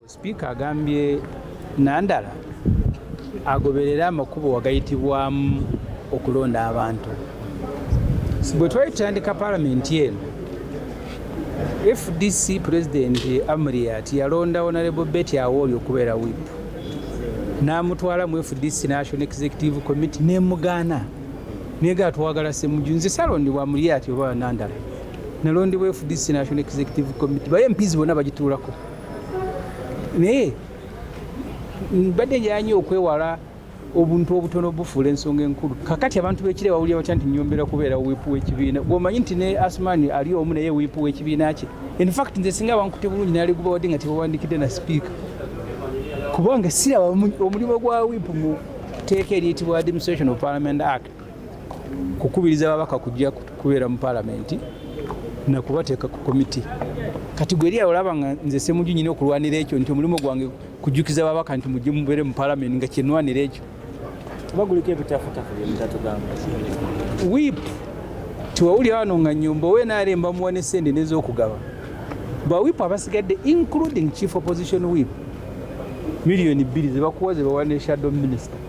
Sipiika agambye Nandala agoberere amakubo wagayitibwamu okulonda abantu. Bwe twali tutandika palamenti eno, FDC pulezidenti Amuriat yalonda Honorable Betty Awori okubeera whip n'amutwala mu FDC National Executive Committee nemugaana negaa twagala Ssemujju nze salondebwa Amuriat oba Nandala nalondebwa FDC National Executive Committee baye empizi bona bagituulako naye mbadde njala nyo okwewala obuntu obutono obufuula ensonga enkulu kakati abantu bekire bawulira batya nti nyombera kubeera wiipu w'ekibiina gwomanyi nti ne asmani ali omu naye wiipu w'ekibiina kye infact nze singa bankute bulungi naliguba wadde nga tebawandikidde na sipiika kubanga siraba omulimu gwa wiipu mu tteeka eriyitibwa administration of parliament act kukubiriza babaka kujja kubeera mu palamenti nakubateeka ku komiti kati gweri olaba nga nze semuju nyina okulwanira ekyo nti omulimu gwange kujjukiza babaka nti mujje mubeere mu palamenti nga kyenwanira ekyo wip tiwawuli wano nga nyumba owe naremba muwa ne sente nezokugaba bawip abasigadde including chief opposition wip miliyoni bbiri zebakuwa zebawa ne shadow minister